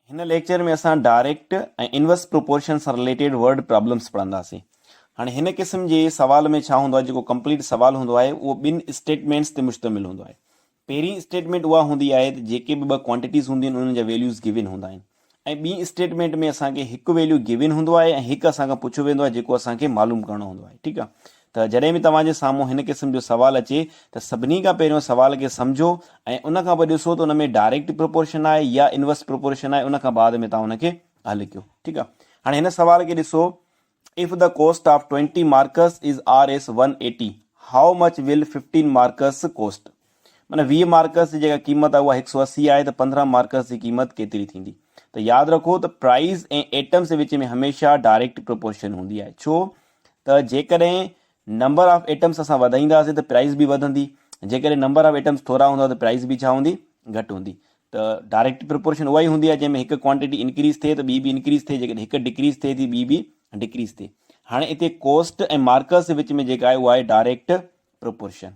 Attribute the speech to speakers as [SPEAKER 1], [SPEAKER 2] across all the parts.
[SPEAKER 1] هن ليڪچر ۾ اسان direct ۽ inverse proportion سان رليٽيڊ ورڊ پرابلمس پڙهنداسين هاڻي هن قسم جي سوال ۾ ڇا هوندو آهي جيڪو ڪمپليٽ سوال هوندو آهي اهو ٻن اسٽيٽمينٽس تي مشتمل هوندو آهي پهرين اسٽيٽمينٽ اها هوندي آهي ته جيڪي به ٻه ڪوانٽيٽيز هونديون آهن انهن جا ويليوز گيون هوندا آهن ۽ ٻي اسٽيٽمينٽ ۾ اسان کي هڪ ويليو گيون هوندو آهي ۽ هڪ اسان کان پڇيو ويندو آهي جيڪو اسان کي معلوم ڪرڻو هوندو آهي ٺيڪ آهي ته جڏهن به توهان جي سامهون هن قسم جو سوال اچي ته سڀني کان پهريون سوال کي سمجهو ۽ ان کان پوء ڏسو ته ان ۾ ڊائريڪٽ پروپورشن آهي يا انورس پروپورشن آهي ان کان بعد ۾ توهان ان کي حل ڪيو ٺيڪ آهي هاڻي هن سوال کي ڏسو if the cost of twenty marks is R S one eighty how much will fifteen marks cost معنيٰ ويهه مارڪس جي جيڪا قيمت آهي اها هڪ سؤ اسي آهي ته پندرهن مارڪس جي قيمت ڪيتري ٿيندي؟ ته ياد رکو ته پرائيز ۽ ايٽمس جي وچ ۾ هميشه ڊائريڪٽ پروپورشن هوندي آهي ڇو ته جيڪڏهن نمبر آف ايٽمس اسان وڌائينداسين ته پرائيز به وڌندي جيڪڏهن نمبر آف ايٽمس ٿورا هوندا ته پرائيز به ڇا هوندي گهٽ هوندي ته ڊائريڪٽ پروپورشن اها ئي هوندي آهي جنهن ۾ هڪ ڪوانٽيٽي انڪريز ٿئي ته ٻي به انڪريز ٿئي جيڪڏهن هڪ ڊڪريز ٿئي ٿي ٻي به ڊڪريز ٿئي هاڻي هتي ڪوسٽ ۽ مارڪس جي وچ ۾ جيڪا آهي اها آهي ڊائريڪٽ پروپورشن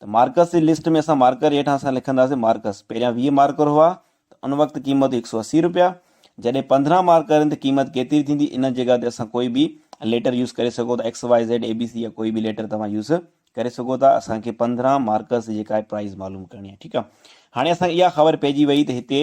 [SPEAKER 1] ته مارڪس جي لسٽ ۾ اسان مارڪر هيٺان اسان لکنداسين مارڪس پهريان ويهه مارڪر هئا ته ان وقت قيمت هئي هڪ سؤ اسي رپيا جڏهن پندرهن مارڪر آهن ته قيمت ڪيتري ٿيندي ان جي جڳهه تي اسان ڪوئي به ليٽر يوز ڪري سگهو ٿا X Y Z A B C يا ڪوئي به ليٽر توهان يوز ڪري سگهو ٿا اسان کي پندرهن مارڪس جي جيڪا آهي پرائز معلوم ڪرڻي آهي ٺيڪ آهي هاڻي اسان کي اها خبر پئجي وئي ته هتي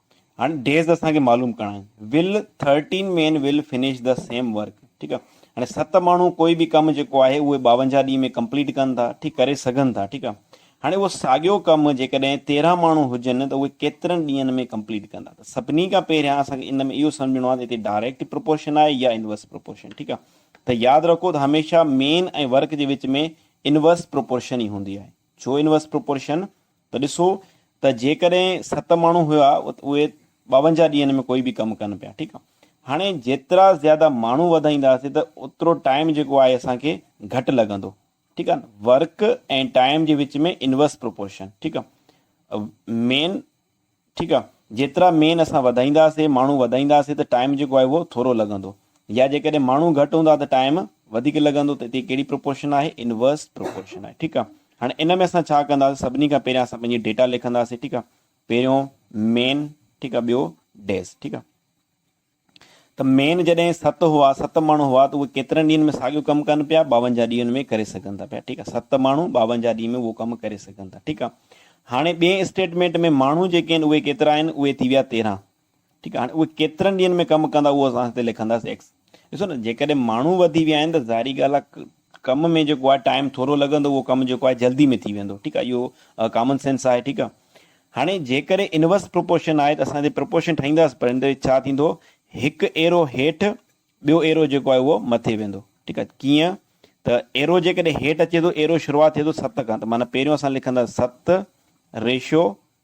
[SPEAKER 1] هاڻي ڊيز اسان کي معلوم ڪرڻا آهن will thirteen men will finish the same work ٺيڪ آهي هاڻي ست ماڻهو ڪوئي به ڪم جيڪو آهي اهي ٻاونجاهه ڏينهن ۾ ڪمپليٽ ڪن ٿا ٺيڪ ڪري سگهن ٿا ٺيڪ آهي هاڻي اهو ساڳيو ڪم جيڪڏهن تيرهن ماڻهو هجن ته اهي ڪيترن ڏينهن ۾ ڪمپليٽ ڪندا ته سڀني کان پهريان اسان کي ان ۾ اهو سمجهڻو آهي ته هتي ڊائريڪٽ پروپورشن آهي يا انورس پروپورشن ٺيڪ آهي ته ياد رکو ته هميشه مين ۽ ورڪ جي وچ ۾ انورس پروپورشن ئي هوندي آهي ڇو انورس پروپورشن ته ڏسو ته جيڪڏهن ست ماڻهو هيا ته اهي ٻاونجاهه ڏينهن ۾ ڪوئي به ڪم ڪن پيا ٺيڪ آ هاڻي جيترا زياده ماڻهو وڌائينداسي ته اوترو ٽائيم جيڪو آهي اسان کي گهٽ لڳندو ٺيڪ آ ورڪ ۽ ٽائيم جي وچ ۾ انورس پروپورشن ٺيڪ آ مين ٺيڪ آ جيترا مين اسان وڌائينداسي ماڻهو وڌائينداسي ته ٽائيم جيڪو آهي اهو ٿورو لڳندو يا جيڪڏهن ماڻهو گهٽ هوندا ته ٽائيم وڌيڪ لڳندو ته هتي ڪهڙي پروپورشن آهي انورس پروپورشن آهي ٺيڪ آ هاڻي ان ۾ اسان ڇا ڪنداسي سڀني کان پهريان اسان پنهنجي ڊيٽا لکنداسي ٺيڪ آ پهريون مين ٺيڪ آ ٻيو ڊيز ٺيڪ آ ته مين جڏهن ست هئا، ست ماڻهو هئا، ته اهي ڪيترن ڏينهن ۾ ساڳيو ڪم ڪن پيا؟ ٻاونجاهه ڏينهن ۾ ڪري سگهن ٿا پيا، ٺيڪ آهي، ست ماڻهو ٻاونجاهه ڏينهن ۾ اهو ڪم ڪري سگهن ٿا، ٺيڪ آهي. هاڻي ٻئي اسٽيٽمينٽ ۾ ماڻهو جيڪي آهن اهي ڪيترا آهن؟ اهي ٿي ويا تيرهن، ٺيڪ آهي، هاڻي اهي ڪيترن ڏينهن ۾ ڪم ڪندا اهو اسان هتي لکنداسين ايڪس. ڏسو نه جيڪڏهن ماڻهو وڌي ويا آهن ته ظاهري ڳالهه آهي ڪم ۾ جيڪو آهي ٽائيم ٿورو لڳندو اهو ڪم جيڪو آهي جلدي ۾ ٿي ويندو ٺيڪ آهي اهو ڪامن سينس آهي ٺيڪ آهي هاڻي جيڪڏهن انورس پروپورشن آهي ته اسان هتي پروپورشن ٺاهينداس پر هن ڇا ٿيندو هڪ ايرو هيٺ ٻيو ايرو جيڪو آهي اهو مٿي ويندو ٺيڪ آهي ڪيئن ته ايرو جيڪڏهن هيٺ اچي ٿو ايرو شروعات ٿئي ٿو ست کان ته معنيٰ پهريون اسان لکنداسين ست ريشو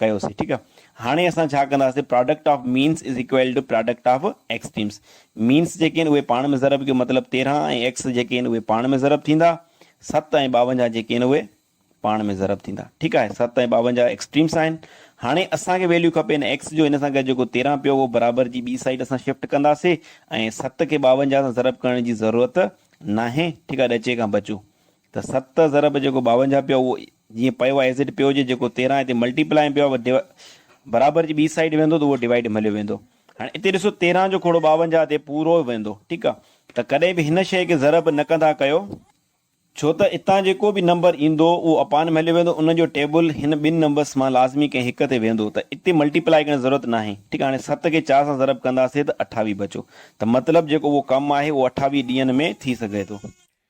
[SPEAKER 1] ڪيوسين ٺيڪ آ هاڻي اسان ڇا ڪنداسين product of means is equal to product of extremes means جيڪي آهن اهي پاڻ ۾ ضرب ڪيو مطلب تيرهن ۽ ايڪس جيڪي آهن اهي پاڻ ۾ ضرب ٿيندا ست ۽ ٻاونجاهه جيڪي آهن اهي پاڻ ۾ ضرب ٿيندا ٺيڪ آهي ست ۽ ٻاونجاهه ايڪسٽريمس آهن هاڻي اسان کي ويليو کپي هن ايڪس جو هن سان گڏ جيڪو تيرهن پيو اهو برابر جي ٻي سائيڊ اسان شفٽ ڪنداسين ۽ ست کي ٻاونجاهه سان ضرب ڪرڻ جي ضرورت ناهي ٺيڪ آهي ڏچي کان بچو ته ست ضرب جيڪو ٻاونجاهه پيو اهو جيئن پيو آهي ايز اٽ پيو هجي جيڪو تيرهن هتي ملٽي پلائي ۾ پيو آهي اهو برابر جي ٻي سائيڊ ويندو ته اهو ڊوائيڊ ۾ هليو ويندو هاڻي اتي ڏسو تيرهن جو کوڙو ٻاونجاهه تي پورو ويندو ٺيڪ آهي ته ڪڏهن به هن شيء کي ضرب نه ڪندا ڪيو ڇو ته اتان جيڪو به نمبر ايندو اهو اپان ۾ هليو ويندو ان جو ٽيبل هن ٻن نمبرس مان لازمي ڪنهن هڪ تي ويندو ته اتي ملٽي پلائي ڪرڻ جي ضرورت ناهي ٺيڪ آهي هاڻي ست کي چار سان ضرب ڪنداسين ته اٺاويهه بچو ته مطلب جيڪو اهو ڪم آهي اهو اٺاويهه ڏينهن ۾ ٿي سگهي ٿو.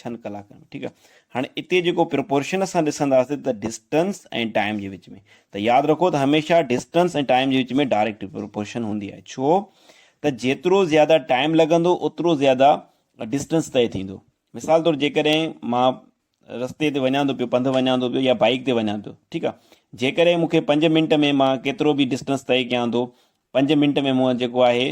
[SPEAKER 1] ڇهن ڪلاڪن ۾ ٺيڪ آ هاڻي اتي جيڪو پرپورشن اسان ڏسنداسين ته ڊسٽنس ۽ ٽائيم جي وچ ۾ ته ياد رکو ته هميشه ڊسٽنس ۽ ٽائيم جي وچ ۾ ڊائريڪٽ پرپورشن هوندي آهي ڇو ته جيترو زياده ٽائيم لڳندو اوترو زياده ڊسٽنس طئي ٿيندو مثال طور جيڪڏهن مان رستي تي وڃان ٿو پيو پنڌ وڃان ٿو پيو يا بائيڪ تي وڃان ٿو ٺيڪ آ جيڪڏهن مونکي پنج منٽ ۾ مان ڪيترو به ڊسٽنس طئي ڪيان ٿو پنج منٽ ۾ مون جيڪو آهي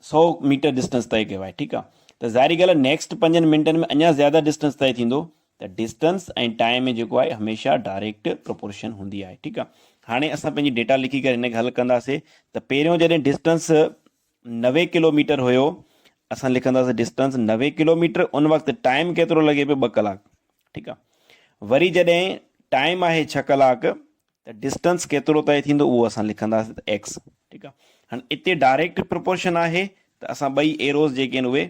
[SPEAKER 1] سو ميٽر ڊسٽنس طئي ڪيو آهي ٺيڪ آهي ته ظاهري ڳالهه آهي نيڪسٽ پنجن منٽن ۾ اڃا زياده ڊسٽنس طئي ٿيندو ته ڊسٽنس ۽ ٽائم ۾ جيڪو آهي هميشه ڊائريڪٽ پروپورشن هوندي آهي ٺيڪ آهي هاڻي اسان پنهنجي ڊيٽا لکي ڪري هن کي حل ڪنداسي ته پهريون جڏهن ڊسٽنس نوي ڪلوميٽر هيو اسان لکنداسي ڊسٽنس نوي ڪلوميٽر ان وقت ٽائم ڪيترو لڳي پيو ٻه ڪلاڪ ٺيڪ آهي وري جڏهن ٽائم آهي ڇهه ڪلاڪ ته ڊسٽنس ڪيترو طئي ٿيندو اهو اسان لکنداسين ته ايڪس ٺيڪ آهي هاڻي اتي ڊائريڪٽ پروپورشن آهي ته اسان ٻئي ايروز جيڪي آهن اهي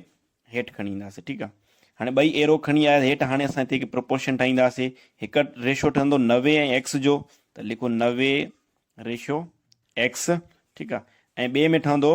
[SPEAKER 1] هيٺ کڻي اينداسين ٺيڪ آهي هاڻي ٻئي ايرو کڻي آيا هيٺ هاڻي اسان هتي هڪ پروپورشن ٺاهينداسين هڪ ريشو ٺهندو نوي ۽ ايڪس جو ته لکو نوي ريشو ايڪس ٺيڪ آهي ۽ ٻئي ۾ ٺهندو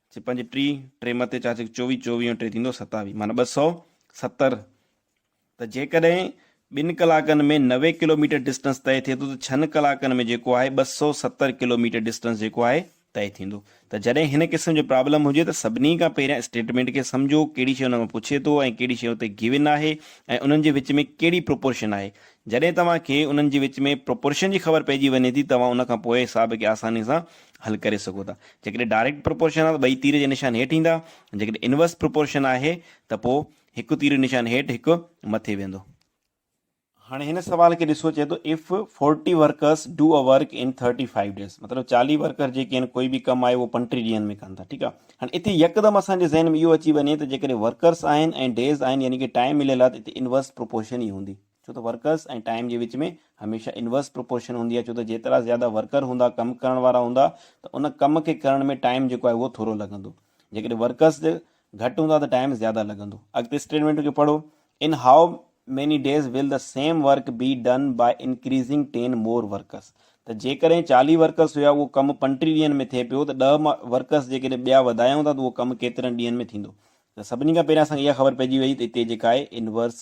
[SPEAKER 1] چي پنج ٽي، ٽي مٿي چار چيڪ چوويهه، چوويهه ۽ ٽي ٿيندو ستاويهه معنيٰ ٻه سؤ ستر ته جيڪڏهن ٻن ڪلاڪن ۾ نوي ڪلوميٽر ڊسٽنس طئي ٿئي ٿو ته ڇهن ڪلاڪن ۾ جيڪو آهي ٻه سؤ ستر ڪلوميٽر ڊسٽنس جيڪو آهي طئي ٿيندو ته جڏهن هن قسم جو پرابلم هجي ته سڀني کان پهريان اسٽيٽمينٽ کي سمجهو ڪهڙي شيء ان مان پڇي ٿو ۽ ڪهڙي شيء اتي گيون آهي ۽ انهن جي وچ ۾ ڪهڙي پروپورشن آهي جڏهن توهان کي انهن جي وچ ۾ پروپورشن جي خبر پئجي وڃي ٿي توهان ان کان پوء حساب کي آساني سان حل ڪري سگهو ٿا. جيڪڏهن ڊائريڪٽ پروپورشن آهي ته ٻئي تير جا نشان هيٺ ايندا ۽ جيڪڏهن انورس پروپورشن آهي ته پوء هڪ تير جو نشان هيٺ هڪ مٿي ويندو. هاڻي هن سوال کي ڏسو چئي ٿو if forty workers do a work in thirty five days مطلب چاليهه ورڪر جيڪي آهن ڪوئي به ڪم آهي اهو پنٽيهه ڏينهن ۾ ڪن ٿا ٺيڪ آهي هاڻي اتي يڪدم اسان جي ذهن ۾ اهو اچي وڃي ته جيڪڏهن ورڪرس آهن ۽ ڊيز آهن يعني ڪي ٽائيم مليل آهي ته اتي انورس پروپورشن ئي هوندي ڇو ته ورڪرس ۽ ٽائيم جي وچ ۾ هميشه انورس پروپورشن هوندي آهي ڇو ته جيترا زياده ورڪر هوندا ڪم ڪرڻ وارا هوندا ته ان ڪم کي ڪرڻ ۾ ٽائيم جيڪو آهي اهو ٿورو لڳندو جيڪڏهن ورڪرس گهٽ هوندا ته ٽائيم زياده لڳندو اڳتي اسٽيٽمينٽ کي پڙهو in how many days will the same work be done by increasing ten more workers ته جيڪڏهن چاليهه ورڪرس هيا اهو ڪم پنٽيهه ڏينهن ۾ ٿئي پيو ته ڏهه ورڪرس جيڪڏهن ٻيا وڌايون ٿا ته اهو ڪم ڪيترن ڏينهن ۾ ٿيندو ته سڀني کان پهريان اسان کي اها خبر پئجي وئي ته هتي جيڪا آهي انورس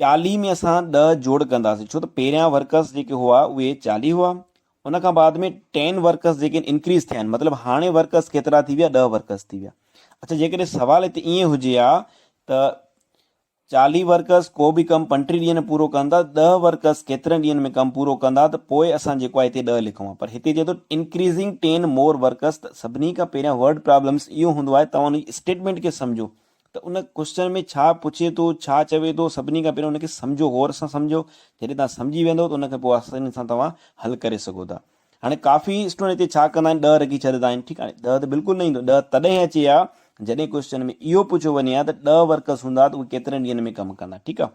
[SPEAKER 1] چاليهه ۾ اسان ڏهه جوڙ ڪنداسين ڇو ته پهريان ورڪرس جيڪي هئا اهي چاليهه هئا ان کان بعد ۾ ٽين ورڪرس جيڪي آهن انڪريز ٿيا آهن مطلب هاڻي ورڪرس ڪيترا ٿي ويا ڏهه ورڪرس ٿي ويا اڇا جيڪڏهن سوال هتي ائين هجي ها ته چاليهه ورڪرس ڪو به ڪم پنٽيهه ڏينهن ۾ پورو ڪن ٿا ڏهه ورڪرس ڪيترن ڏينهن ۾ ڪم پورو ڪندا ته پوء اسان جيڪو آهي هتي ڏهه لکون ها پر هتي چئي ٿو انڪريزنگ ٽين مور ورڪرس ته سڀني کان پهريان ورڊ پرابلمس اهو هوندو آهي توهان ان جي اسٽيٽمنٽ کي سمجهو ته ان ڪوئسچن ۾ ڇا پڇي ٿو، ڇا چوي ٿو، سڀني کان پهريان ان کي سمجهو، غور سان سمجهو، جڏهن توهان سمجهي ويندؤ ته ان کي پوء آساني سان توهان حل ڪري سگهو ٿا. هاڻي ڪافي اسٽوڊنٽ هتي ڇا ڪندا آهن ڏهه رکي ڇڏندا آهن ٺيڪ آهي ڏهه ته بلڪل نه ايندو ڏهه تڏهن اچي ها جڏهن ڪوئسچن ۾ اهو پڇيو وڃي ها ته ڏهه ورڪرس هوندا ته اهي ڪيترن ڏينهن ۾ ڪم ڪندا ٺيڪ آهي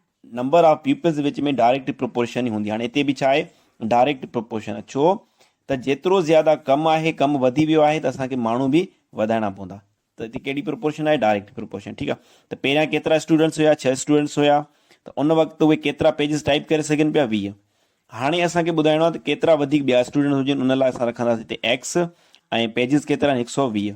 [SPEAKER 1] نمبر آف پيپلز جي وچ ۾ ڊائريڪٽ پروپورشن ئي هوندي هاڻي هتي به ڇا آهي ڊائريڪٽ پروپورشن ڇو ته جيترو زياده ڪم آهي ڪم وڌي ويو آهي ته اسان کي ماڻهو به وڌائڻا پوندا ته هتي ڪهڙي پروپورشن آهي ڊائريڪٽ پروپورشن ٺيڪ آهي ته پهريان ڪيترا اسٽوڊنٽس هيا ڇهه اسٽوڊنٽس هيا ته ان وقت اهي ڪيترا پيجز ٽائپ ڪري سگهن پيا ويهه هاڻي اسان کي ٻڌائڻو آهي ته ڪيترا وڌيڪ ٻيا اسٽوڊنٽس هجن ان لاء اسان رکنداسين هتي ايڪس ۽ پيجز ڪيترا آهن هڪ سؤ ويهه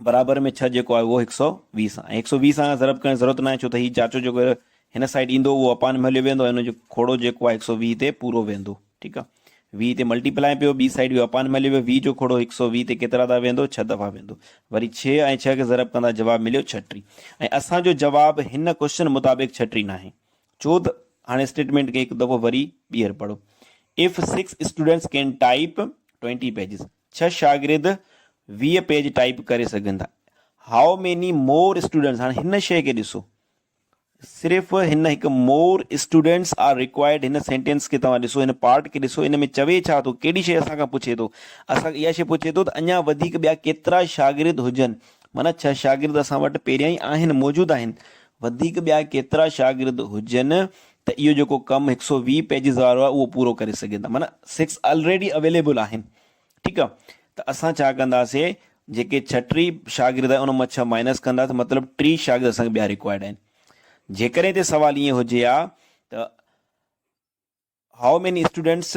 [SPEAKER 1] برابر ۾ ڇهه جيڪو آهي اهو هڪ سؤ ويهه سان ۽ هڪ سؤ ويهه سان ضرب ڪرڻ جي ضرورت ناهي ڇو ته هي چاچو جيڪو هن سائيڊ ايندو اهو اپان ۾ هليو ويندو ۽ هن جو کوڙو جيڪو آهي هڪ سؤ ويهه تي پورو ويندو ٺيڪ آهي ويهه تي ملٽيپلائي پيو ٻي سائيڊ ويو اپان ۾ هليو ويو ويهه جو کوڙو هڪ سؤ ويهه تي ڪيترا دفعا ويندو ڇهه دفعا ويندو وري ڇهه ۽ ڇهه کي ضرب ڪندا جواب مليو ڇٽي ۽ اسان جو جواب هن ڪوشچن مطابق ڇٽي ناهي ڇو ته هاڻي اسٽيٽمنٽ کي هڪ دفعو وري ٻيهر پڙهو if six students can type twenty pages ڇهه شاگرد ويهه پيج ٽائيپ ڪري سگهن ٿا. How many more students هاڻي هن شيء کي ڏسو. صرف هن هڪ مور اسٽوڊنٽس آر ريڪوائرڊ هن سينٽينس کي توهان ڏسو هن پارٽ کي ڏسو ان ۾ چوي ڇا ٿو ڪهڙي شيء اسان کان پڇي ٿو اسان اها شيء پڇي ٿو ته اڃا وڌيڪ ٻيا ڪيترا شاگرد هجن معنيٰ ڇهه شاگرد اسان وٽ پهريان ئي آهن موجود آهن وڌيڪ ٻيا ڪيترا شاگرد هجن ته اهو جيڪو ڪم هڪ سؤ ويهه پيجز وارو آهي اهو پورو ڪري سگهين ٿا معنيٰ سڪس الريڊي اويليبل آهن ٺيڪ آهي ته اسان ڇا ڪنداسين جيڪي ڇهه ٽي شاگرد آهن ان مان ڇهه مائنس ڪنداسين مطلب ٽي شاگرد اسان کي ٻيا ريڪوائرڊ آهن جيڪڏهن هتي سوال ائين هجي ها ته هائو ميني اسٽوڊنٽس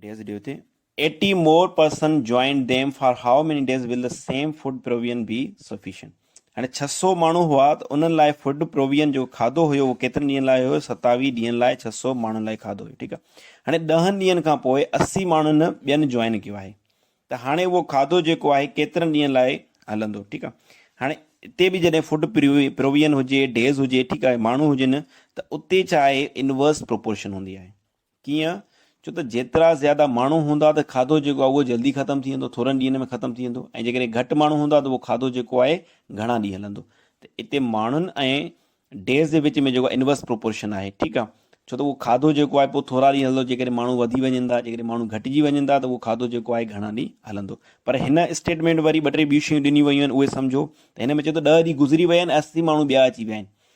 [SPEAKER 1] ڊيز ڏيو تي eighty more person joined them for how many days will the same food provision be sufficient هاڻي ڇهه سؤ ماڻهو هئا ته انهن لاء فوڊ پروويئن جيڪو کاڌو هيو اهو ڪيترن ڏينهن لاء هيو ستاويهه ڏينهن لاء ڇهه سؤ ماڻهن لاء کاڌو هيو ٺيڪ آهي هاڻي ڏهن ڏينهن کان پوء اسي ماڻهن ٻين جوائن ڪيو آهي ته هاڻي اهو کاڌو جيڪو آهي ڪيترن ڏينهن لاء هلندو ٺيڪ آهي هاڻي اتي به جڏهن فوڊ پروويئن هجي ڊيز هجي ٺيڪ آهي ماڻهو هجن ته اتي ڇا آهي انورس پروپورشن هوندي آهي ڪيئن؟ ڇو ته جيترا زياده ماڻهو هوندا ته کاڌو جيڪو آهي اهو جلدي ختم ٿي ويندو، ٿورن ڏينهن ۾ ختم ٿي ويندو ۽ جيڪڏهن گهٽ ماڻهو هوندا ته اهو کاڌو جيڪو آهي گهڻا ڏينهن هلندو. ته اتي ماڻهن ۽ Days جي وچ ۾ جيڪو Inverse Proportion آهي ٺيڪ آهي ڇو ته اهو کاڌو جيڪو آهي پوء ٿورا ڏينهن هلندو جيڪڏهن ماڻهو وڌي وڃن ٿا جيڪڏهن ماڻهو گهٽجي وڃن ٿا ته اهو کاڌو جيڪو آهي گهڻا ڏينهن هلندو پر هن اسٽيٽمينٽ وري ٻه ٽي ٻيون شيون ڏنيون ويون آهن اهي سمجهو ته هن ۾ چئي ٿو ڏهه ڏينهن گذري ويا آهن اسي ماڻهو ٻيا اچي ويا آهن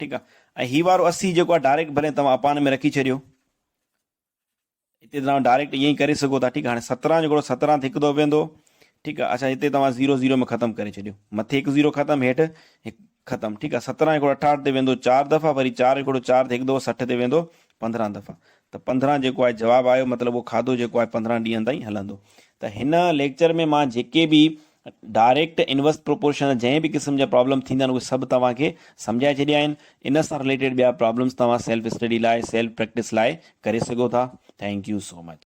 [SPEAKER 1] ٺيڪ آ ۽ هي وارو اسي جيڪو آ ڊائريڪٽ ڀلي توهان اپان ۾ رکي ڇڏيو هتي توهان ڊائريڪٽ ائين ئي ڪري سگهو ٿا ٺيڪ آ هاڻي سترهن جيڪو سترهن هڪ دو ويندو ٺيڪ آ اڇا هتي توهان زيرو زيرو ۾ ختم ڪري ڇڏيو مٿي هڪ زيرو ختم هيٺ هڪ ختم ٺيڪ آ سترهن هڪڙو اٺاهٺ تي ويندو چار دفعا وري چار هڪڙو چار تي هڪ دو سٺ تي ويندو پندرهن دفعا ته پندرهن جيڪو آهي جواب آيو مطلب اهو کاڌو جيڪو آهي پندرهن ڏينهن تائين هلندو ته هن ليڪچر ۾ مان جيڪي به ڊائريڪٽ انورس پروپورشن جنهن به قسم جا پرابلم ٿيندا آهن اهي سڀ توهان کي سمجهائي ڇڏيا آهن ان سان رليٽيڊ ٻيا پرابلمس توهان سيلف اسٽڊي لاء سيلف پريڪٽس لاء ڪري سگهو ٿا ٿينڪ يو سو مچ.